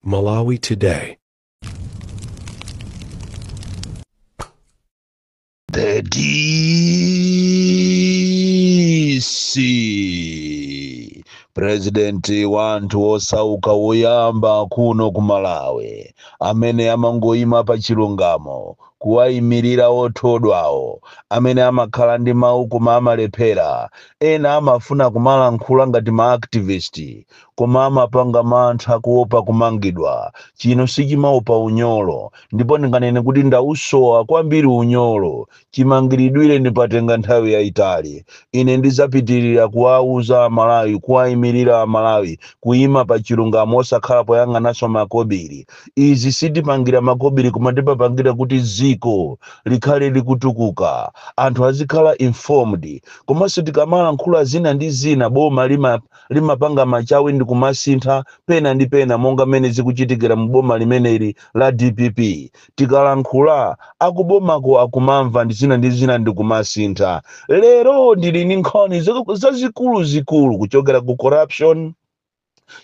Malawi Today. The DC president wa anthu osauka woyamba kuno ku Malawi amene amangoyima pa chilungamo kuwayimirira othodwawo amene amakhala ndi mawu koma amalephera Ena amafuna kumalankhula ngati ma activist koma amapanga mantha kuopa kumangidwa. Chino sichimaopa unyolo ndipo ndinganene kuti ndausowa kwambiri unyolo. Chimangilidwire ndapatenga nthawi yaitali. Ine ndizapitilira kuwauza a Malawi kuwaimilira a Malawi kuima pa chilungamo osakhala poyang'anaso makobili. izi sitipangira makobiri koma timapangira kuti ziko likhale likutukuka anthu azikhala informed komanso tikamalankhula zina ndi zina boma limapanga machawi ndi kumasintha pena ndi pena monga mmene zikuchitikira mu boma limeneli la dpp tikalankhula akubomako akumamva ndi zina ndi zina ndi kumasintha lero ndili ndi nkhani zazikuluzikulu kuchokera ku corruption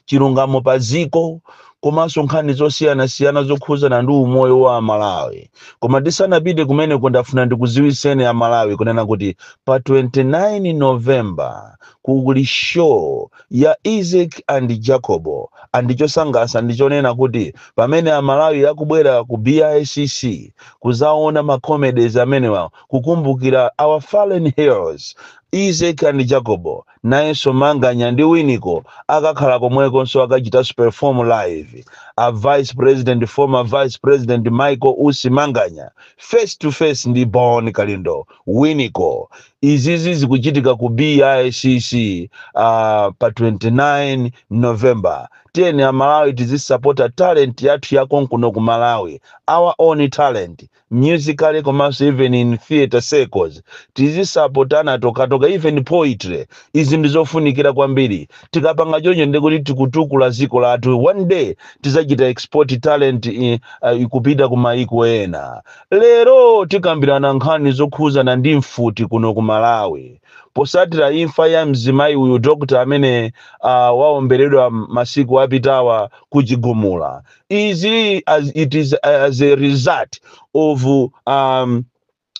chilungamo pa dziko komanso nkhani zosiyanasiyana zokhuzana ndi umoyo wa amalawi koma tisanapite kumeneko ndafuna ndikuziwiseni amalawi kunena kuti pa 29 november kuli show ya isaac and jacobo and chosangasa ndichonena kuti pamene amalawi akubwera ku bicc kuzaona macomedies amenewa kukumbukira our fallen heroes isaac and jacobo Nayenso Manganya ndi Winiko akakhala komwekonso akachitanso perform live. A Vice President Former Vice President Michael Usi Manganya face to face ndi Bon Kalindo, Winiko. Izizi zikuchitika ku BICC aah pa 29 November. Tiyeni a Malawi tizisapota talent yathu ya konkuno ku Malawi, our own talent. musically komanso even in theatre circles tizisapotana tokatoka even poetry izi ndi zofunikira kwambiri tikapanga choncho ndi kuti tikutukula dziko lathu one day tizachita export talent i- ah, ikupita ku maiko ena lero tikambirana nkhani zokhuzana ndi mfuti kuno ku malawi posatira imfa ya mzimayi uyu dokta amene uh, waomberedwa masiku apitawa kuchigumula izi it is as a result of um,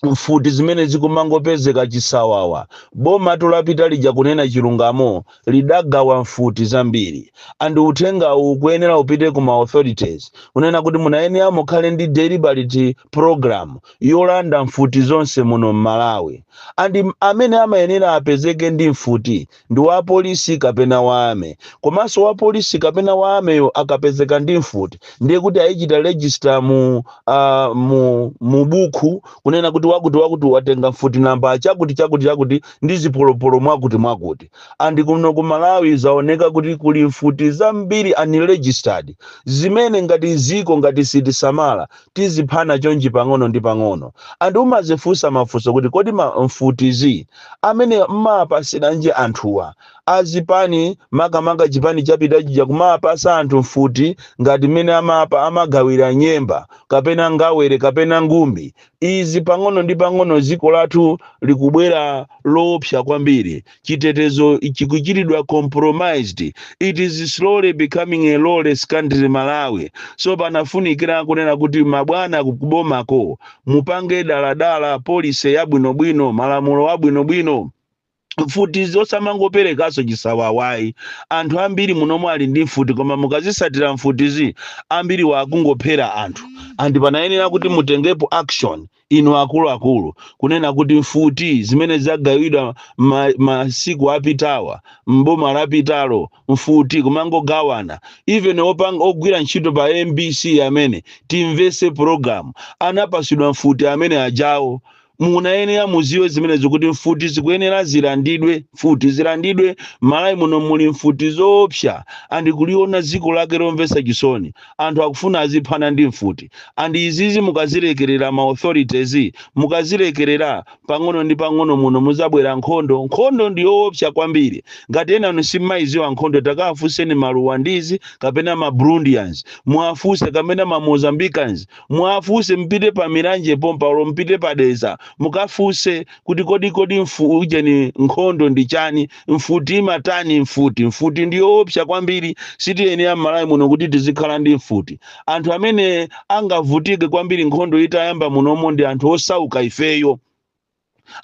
mfuti zimene zikumangopezeka chisawawa boma tulapita lija kunena chilungamo lidagawa mfuti zambiri and uthenga ukuyenera upite ku ma authorities kunena kuti munayenera mukhale ndi deliberate program yolanda mfuti zonse muno m'malawi and m- amene amayenera apezeke ndi mfuti ndi wapolisi kapena wa army, komanso wapolisi kapena wa army yo akapezeka ndi mfuti ndiye kuti ayichita register mu a mu mu bukhu kunena kuti wakuti wakuti watenga mfuti namba chakuti chakuti chakuti ndi zipolopolo mwakuti mwakuti and kuno ku Malawi zaoneka kuti kuli mfuti zambiri unregistered zimene ngati ziko ngati sitisamala tiziphana chonchi pang'ono ndi pang'ono and umazifunsa mafunso kuti kodi mfutizi amene mmawapasiranji anthuwa azipani makamaka chipani chapita chija kumapasa anthu mfuti ngati mmene amapa amagawira nyemba kapena ngawere kapena ngumbi izi pang'ono ndi pang'ono ziko lathu likubwera loopsa kwambiri chitetezo chikuchiridwa compromised it is slowly becoming a lawless country malawi so panafunikira kunena kuti mabwana kubomako mupange daladala polise yabwinobwino malamulo abwinobwino mfuti zosamangoperekanso chisawawayi anthu ambiri munomu ali ndi mfuti koma mukazisatira mfutizi ambiri wakungophera anthu and panayenera kuti mutengepo action inu akuluakulu kunena kuti mfuti zimene zagawidwa ma, masiku apitawa mboma lapitalo mfuti kumangogawana even ogwira ntchito pa mbc amene timvese program anapasidwa mfuti amene ajawo munayenera muziwe zimenezo kuti mfuti zikuyenera zilandidwe mfuti zilandidwe malawi muno muli mfuti zoopsa and kuliona ziko lake lomvesa chisoni anthu akufuna aziphana ndi mfuti and izizi mukazilekerera ma authorities mukazilekerera pang'ono ndi pang'ono muno muzabwera nkhondo nkhondo ndi yoopsa kwambiri ngati enanu simmayiziwa nkhondo takawafunseni ma rwandese kapena ma burundians muwafunse kapena ma mozambicans muwafunse mpite pa mulanje pompa olo mpite pa dedza mukafunse kuti kodi kodi mfu ujeni nkhondo ndi chani Mfuti imatani? Mfuti, mfuti ndi yoopsa kwambiri. Sitiyenera m'Malawi muno kuti tizikhala ndi mfuti. Anthu amene angavutike kwambiri nkhondo itayamba munomu ndi anthu osauka ifeyo,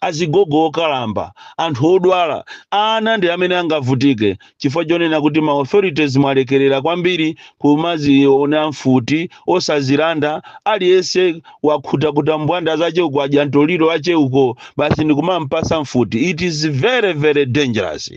azigogo okalamba, anthu odwala. Ana ndi amene angavutike chifukwa chonena kuti ma authorities mwalekerera kwambiri kumaziona mfuti osazilanda aliyense. wakhutakhuta mbwanda zache uko wadya mtoliro wache uko basi ndikumampasa mfuti it is very very dangerous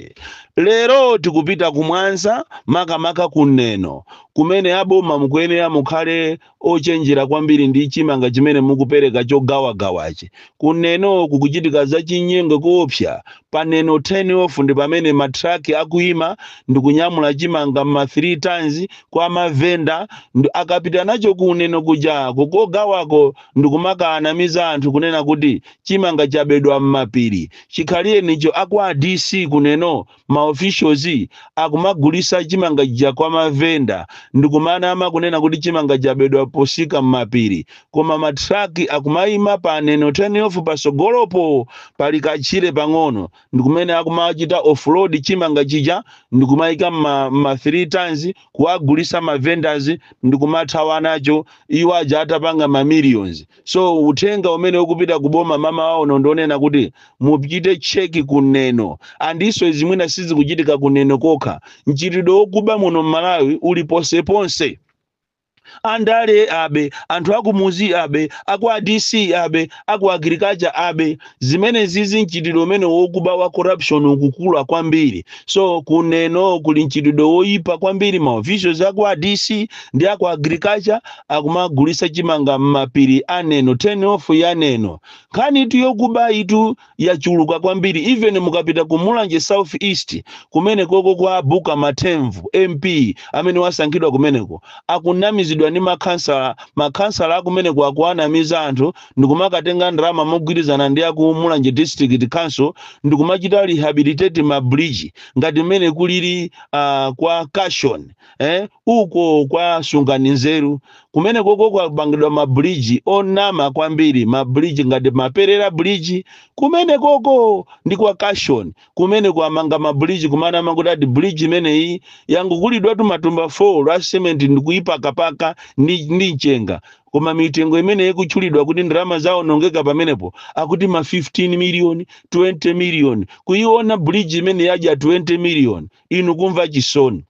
lero tikupita kumwanza makamaka kumeneko kumene aboma mukuyenera mukhale ochenjera kwambiri ndi chimanga chimene mukupereka chogawagawachi kumeneko kukuchitika zachinyengo koopsa Pa neno turn off ndi pamene ma truck akuima ndikunyamula chimanga mma 3 tons kwa ma venda ndi akapita nacho ku neno kuja ko kogawako ndikumakaanamiza anthu kunena kuti chimanga chabedwa mmapiri chikhalirecho a kwa DC ku neno ma officials akumagulisa chimanga chija kwa ma venda ndikumanama kunena kuti chimanga chabedwa posika mmapiri koma ma truck akumaima pa neno turnoff pasogolopo pali kachire pang'ono ndikumene akumachita offload chimanga chija ndikumaika mma mma 3 tons kuwagulisa ma vendors ndikumathawa nacho iwo aja atapanga ma millions so uthenga umene ukupita ku boma mmawa uno ndionena kuti mupite check ku neno ndiponso izi mwina sizikuchitika ku neno kokha mchitidwe wokuba muno mmalawi uli ponseponse andale abe anthu akumuzi abe akwa DC abe aku agriculture abe zimenezizi mchitidwe umene wokuba wa corruption ukukula kwambiri so kuneno kuli mchitidwe woyipa kwambiri ma officials akwa DC ndi aku agriculture akumagulisa chimanga m'mapiri aneno turn off yaneno nkhanitu yokuba itu yachuluka kwambiri even mukapita ku mulanje south east kumenekoko kwabuka mathemvu mp amene wasankhidwa kumeneko akunamizidwa ndi makhansala makhansala akumeneko akuwanamiza anthu ndikumakatenga ndalama mogwirizana ndi aku mulanje district council ndikumachita rehabilitate ma bridge ngati mmene kulili uh, kwa cashon eh? Uko kwa sungani nzeru kumenekoko kwapangidwa ma bridge onama kwambiri, ma bridge ngati Maperera Bridge kumenekoko ndi kwa Cashon kumeneko amanga ma bridge kumanama kuti ati bridge imeneyi yangogulidwatu matumba 4 a cement ndikuipakapaka ndi, ndi mchenga koma mitengo imene ikutchulidwa kuti ndalama zaonongeka pamenepo akuti ma 15 million 20 million kuiona bridge imene yadya 20 million inu kumva chisoni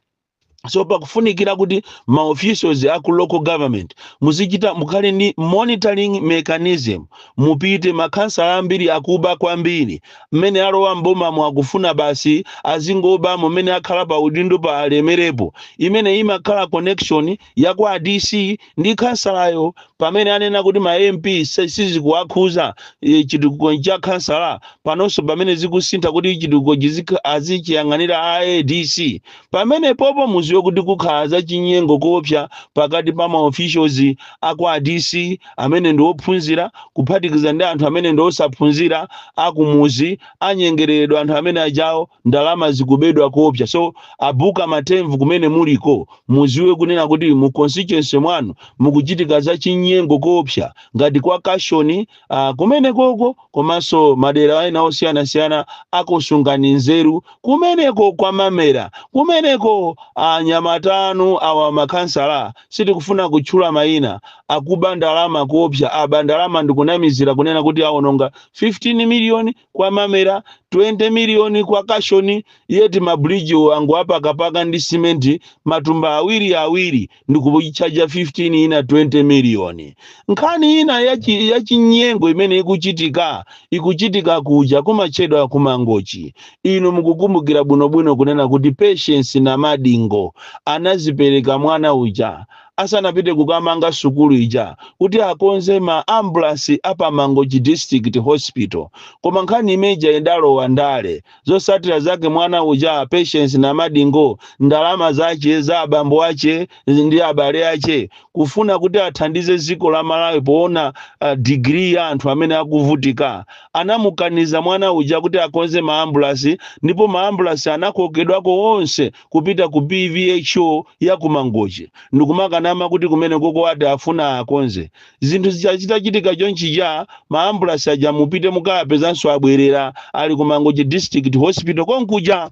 so pakufunikira kuti ma officials a ku local government muzichita mukhale ndi monitoring mechanism mupite makhansala ambiri akuba kwambiri mmene alowa m'bomamo akufuna basi azingobamo mmene akhala pa udindo pa alemelepo imene imakhala connection ya kwa DC ndi khansalayo pamene anena kuti ma MP se- sizikuwakhuza eh, chitukuko cha khansala panonso pamene zikusintha kuti chitukuko chizikha- azichiyang'anira a ADC pamenepopo mudziwe kuti kukhala za chinyengo koopsa pakati pa ma officials a kwa DC amene ndi ophunzira kuphatikiza ndi anthu amene ndi osaphunzira akumuzi anyengereredwa anthu amene ajawo ndalama zikubedwa koopsa so abuka matemvu kumene muliko muziwe kunena kuti mu constituency mwanu mukuchitika za chinyengo koopsa ngati kwa kashoni uh, kumene koko komanso madera ena osiyanasiyana ako Sungani Nzeru kumeneko kwa mamera kumeneko anyamata anu awa makhansala sitikufuna kutchula mayina akuba ndalama koopsa aba ndalama ndikunamizira kunena kuti awononga 15 miliyoni kwa mamera 20 miliyoni kwa kashoni yeti mabuliji angowapakapaka ndi simenti matumba awiri awiri ndikuchaja 15 ina 20 miliyoni nkhani ina yachinyengo imene ikuchitika ikuchitika kuja kumachedwa kumangochi inu mukukumbukira bwinobwino kunena kuti patience namadingo anazipereka mwana uja asanapite kukamanga sukulu ija kuti akonze ma ambulasi a pa mangochi district hospital koma nkhani imeja idalowa ndale zosatira zake mwana uja patience namadingo ndalama zache za abambo ache ndi abale ache kufuna kuti athandize ziko la malawi poona uh, digiri ya anthu amene akuvutika anamukaniza mwana uja kuti akonze maambulasi ndipo maambulasi anakokedwako onse kupita ku PVHO ya ku Mangochi ndikumakanama kuti kumenekoko ati afuna akonze. Zinthu zija zitachitika chonchija, ma ambulasi aja mupite mukawapezanso abwerera ali ku Mangochi District Hospital konkuja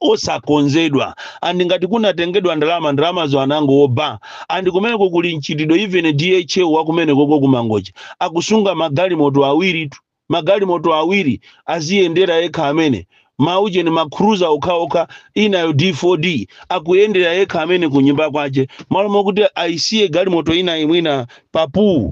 osakonzedwa and ngati kunatengedwa ndalama ndalamazo anangoba and kumeneko kuli mchitidwe even DHO wa kumenekoko ku Mangochi akusunga magalimoto awiritu magalimoto awiri aziyendera yekha amene, ma ujeni ma cruiser okhaokha inayo D4D akuyendera yekha amene kunyumba kwache malo mokuti ayisiye galimoto inayi mwina pa pool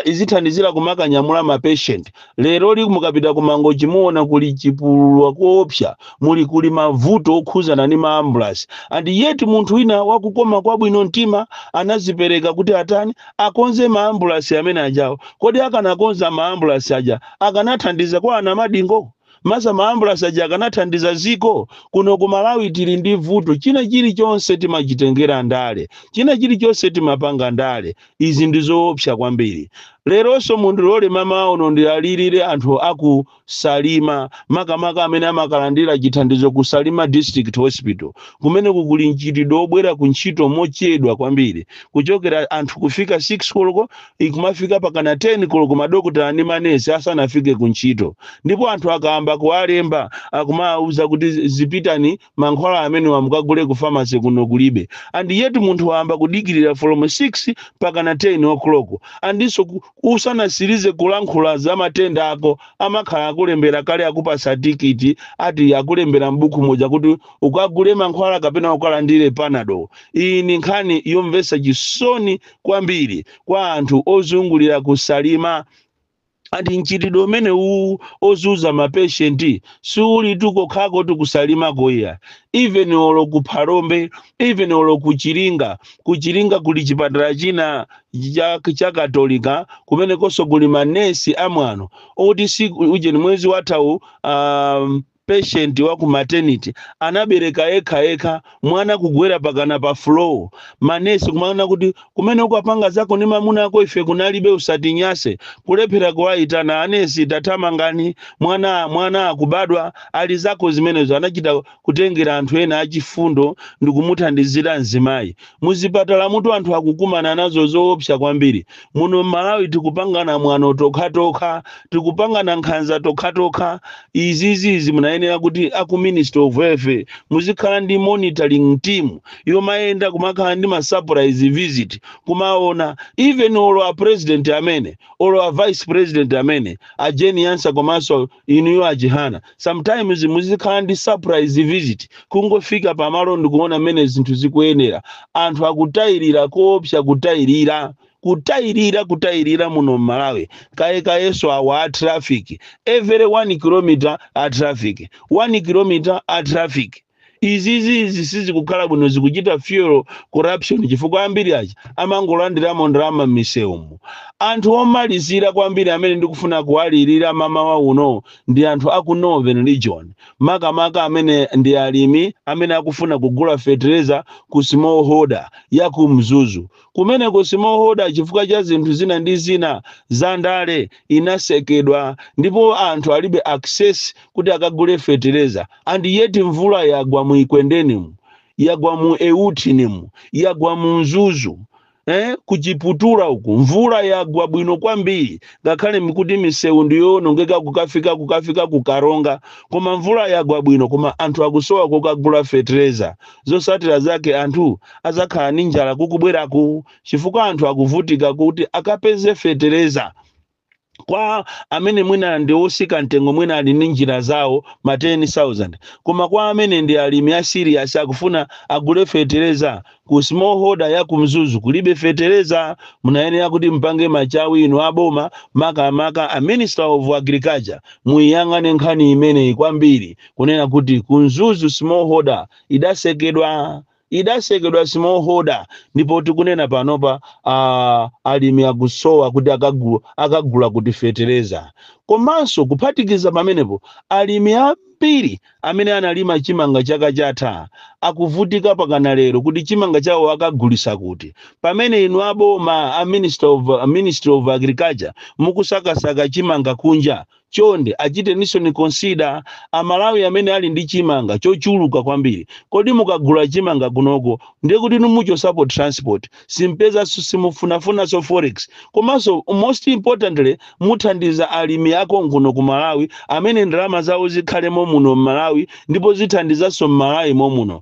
izithandizira kumakanyamula ma patient leroli mukapita ku mangochi muona kuli chipulula koopsa muli kuli mavuto okhuzana ndi ma ambulance and yet munthu wina wakukoma kwabwino mtima anazipereka kuti atani akonze maambulasi amene ajawo kodi akanakonza maambulasi aja akanathandiza kwa a Namadingo masa maambulasi aja akanathandiza ziko kuno ku malawi tili ndi vuto china chilichonse timachitengera ndale china chilichonse timapanga ndale izi ndi zoopsa kwambiri leronso mundilole mmawa uno ndiwalilire anthu aku Salima, makamaka amene amakalandira chithandizo ku Salima District Hospital. Kumeneku kuli mchitidwe wobwera ku ntchito mochedwa kwambiri, kuchokera anthu kufika 6 koloko ikumafika pakana 10 koloko madokotala ndi manesi asanafike ku ntchito, ndipo anthu akayamba kuwalemba akumawauza kuti zipitani mankhwala amenewa mukagule ku pharmacy kuno kulibe and yet munthu wayamba kudikirira from 6 pakana 10 o'clock andinso ku- usanasirize kulankhula za matenda ako amakhala akulembera kale akupasa tikiti ati akulembera m'buku moja kuti ukagule mankhwala kapena ukalandire panado iyi ni nkhani yomvetsa chisoni kwambiri kwa anthu ozungulira kusalima andi mchitidwe umenewu ozuza mapeshenti siulitu kokhakotu ku Salimako iya even olo ku phalombe even olo ku Chiringa ku Chiringa kuli chipatala china cha, cha katolika kumenekonso kuli manesi amwano oti si ujeni mwezi wathawu um, patient wa ku maternity anabereka yekha yekha mwana kugwera pakana pa floor manesi kumanena kuti kumene ukapanga zako ndi mamuna ako ife kunalibe usatinyase kulephera kuwaitana anesi tathamangani mwana mwana akubadwa ali zako zimenezo anachita kutengera anthu ena achifundo ndikumuthandizira mzimayi Muzipatalamutu anthu akukumana nazo zoopsa kwambiri. Muno m'Malawi tikupangana mwano tokhatokha, tikupangana nkhanza tokhatokha. Izizi izi munayenera kuti a ku Ministry of Health muzikhala ndi monitoring team yomayenda kumakhala ndi ma surprise visit kumaona even olo a president amene olo a vice president amene a Jane Ansah komanso inuyo achihana sometimes muzikhala ndi surprise visit kungofika pamalo ndikuona mmene zinthu zikuyendera anthu akutayirira koopsa kutayirira kutayirira kutayirira muno mmalawi kaye kayeso awa a traffic every 1 kilometer a traffic 1 kilometer a traffic izizizi sizikukhala bwino zikuchita fuel corruption chifukwa ambiri aja amangolandiramo ndalama m'misewumu anthu omalizira kwambiri amene ndikufuna kuwalirira mamawa uno ndi anthu aku northern region makamaka amene ndi alimi amene akufuna kugula fetereza ku smallholder ya ku mzuzu Kumeneko smallholder, chifukwa cha zinthu zina ndi zina za ndale, inasekedwa ndipo anthu alibe access kuti akagule fetereza and yet mvula yagwa mu Ekwendenimu, yagwa mu Euthinimu, yagwa mu Mzuzu, eh, ku Chiputula uku mvula yagwa bwino kwambiri ngakhale nkuti misewu ndiyoonongeka kukafika kukafika ku Karonga koma mvula yagwa bwino koma anthu akusowa kokagula fetereza Zosatira zake anthu azakhala ndi njala kukubweraku chifukwa anthu akuvutika kuti akapeze fetereza kwa amene mwina ndi otsika mtengo mwina ali ndi njira zawo ma 10000 koma kwa amene ndi alimi a serious akufuna agule fetereza ku smallholder ya kumzuzu kulibe fetereza munayenera kuti mpange machawi inu aboma makamaka a minister of agriculture muyang'ane nkhani imeneyi kwambiri kunena kuti ku mzuzu smallholder ida idasekedwa smallholder ndipo tikunena panopa a alimi akusowa kuti akagu, akagula kuti fetereza komanso kuphatikiza pamenepo alimi ambiri amene analima chimanga chaka chatha akuvutika pakana lero kuti chimanga chawo akagulisa kuti pamene inu aboma a minister of, a ministry of agriculture mukusakasaka chimanga kunja Chonde achiteninsoni consider a Malawi amene ali ndi chimanga chochuluka kwambiri. Kodi mukagula chimanga kunoku ndiye kuti inu muchosapo transport, simpezanso simufunafunanso forex komanso most importantly muthandiza alimi akonkuno ku Malawi amene ndalama zawo zikhale momuno m'Malawi ndipo zithandizanso m'Malawi momuno.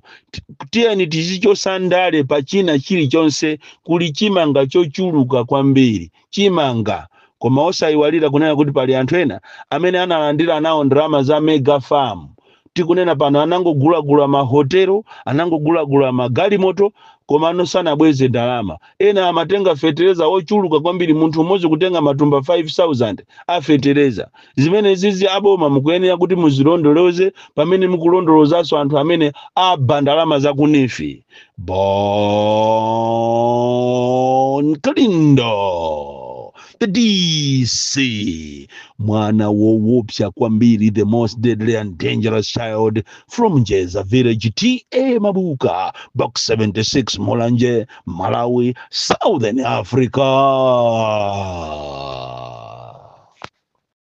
Tiyeni tizichosa ndale pa china chilichonse kuli chimanga chochuluka kwambiri. chimanga. Koma osaiwalira kunena kuti pali anthu ena amene analandira nawo ndalama za Mega Farm. Tikunena pano anangogulagula ma hotelo, anangogulagula ma galimoto komano sanabweze ndalama. Ena amatenga fetereza wochuluka kwambiri munthu umodzi kutenga matumba 5000 a fetereza. zimenezizi aboma mukuyenera kuti muzilondoloze pamene mukulondolozanso anthu amene aba ndalama za ku neef bon kalindo the dc mwana wowopsa kwambiri the most deadly and dangerous child from njeza village ta mabuka box 76 mulanje malawi southern africa